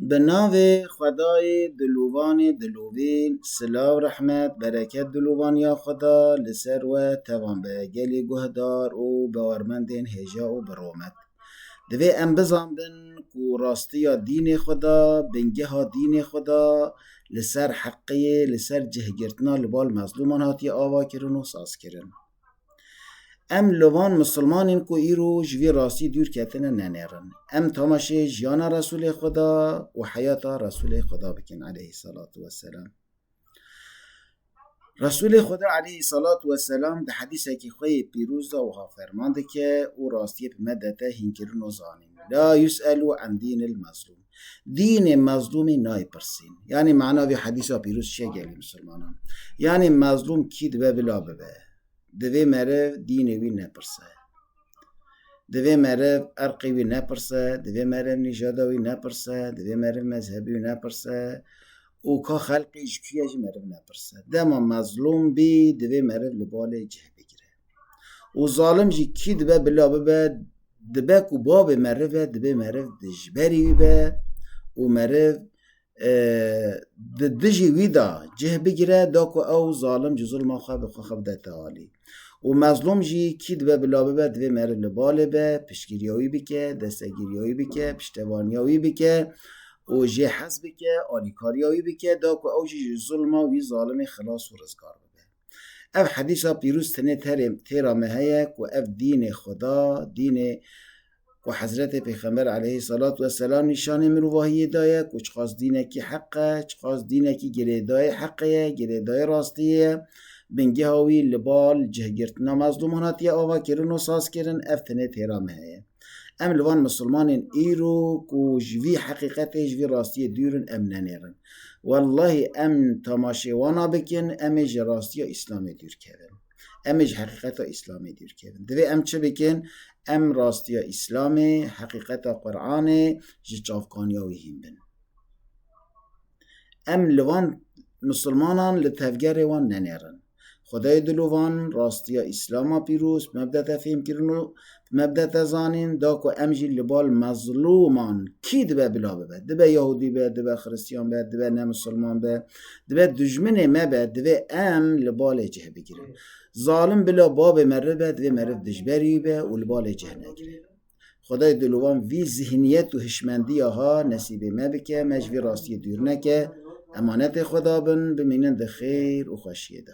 Bi navê xwedayê dilûvanê dilûvîn silav rehmet bereket dilûvan ya xweda li ser we tevan be gelê guhdar û bawermendên hêja û bi romet. Divê em bizanbin ku rastiya dînê xweda bingeha dînê xweda li ser heqê li ser cihgirtina li bal mezlûman hatiye avakirin û sazkirin. Em li van misilmanên ku îro ji vî rastî dûr ketine nenêrin. Em tamaşê jiyana Resûlê Xweda û heyata Resûlê Xweda bikin aleyhî selatu weselam. Resûlê Xweda aleyhî selatu weselam di hedîsekî xwe yê pîroz de wiha ferman dike û rastiyê bi me dete hînkirino zanîn. La yus'elû an dînil mezlûm. Dînê mezlûmî nayê pirsîn. Yanî mana vê hedîsa pîroz çi ye gelê misilmanan? Yanî mezlûm kî dibe vila bibe? Divê meriv dînê wî nepirse. Divê meriv erqê wî nepirse, divê meriv nîjada wî nepirse, divê meriv mezhebî wî nepirse û ka xelqê ji kû ye jî meriv nepirse. Dema mezlûm bî divê meriv li balê cih bigire. û zalim jî kî dibe bila bibe dibe ku bavê meriv e divê meriv di ji berî wî be û meriv e, di dijî wî de cih bigire da ku ew zalim ji zulma xwe bi xwe xwe bide tealî û mezlûm jî kî dibe bila bibe divê meriv li balê be piştgiriya wî bike destegiriya wî bike piştevaniya wî bike û jê hez bike alîkariya wî bike da ku ew jî ji zulma wî zalimê xilas û rizgar bibe Ev hedîsa pîrûz tenê terê têra me heye ku ev dînê Xweda, dînê ku Hezretê Pêxember aleyhî selat ve selam nîşanê mirovahiyê daye ku çiqas dînekî heq e, çiqas dînekî girêdayê heqê ye, girêdayê rastiyê ye. Bingeha wî li bal cihgirtina mezlûman hatiye avakirin û sazkirin, ev tenê têra me heye. Em li van misilmanên îro ku ji vî heqîqetê, ji vî rastiyê dûr in, em nenêrin. Wellahî em temaşê wana bikin, em ê ji rastiya Îslamê dûr kevin. Em ê ji heqîqeta Îslamê dûr kevin. Divê em çi bikin? Em rastiya Îslamê, heqîqeta Quranê ji çavkaniya wî hîn bin. Em li van misilmanan li tevgerê wan nenêrin. Xwedayê diluvan, rastiya Îslam a pîroz, mebde te fêmkirin û mebde te zanîn da ku em jî li bal mezlûman kî dibe bila bibe. Dibe Yahûdî be, dibe Xiristîyan be, dibe ne Misilman be, dibe dijminê me be, divê em li balê cih bigirin. Zalim bila babê meriv be, divê meriv dijberî be û li balê cih negire. Xwedayê di li wan vî zîhniyet û hişmendiya ha nesîbê me bike, me ji vî rastiyê dûr neke, emanetê xwe dabin, bimînin di xêr û xweşiyê de.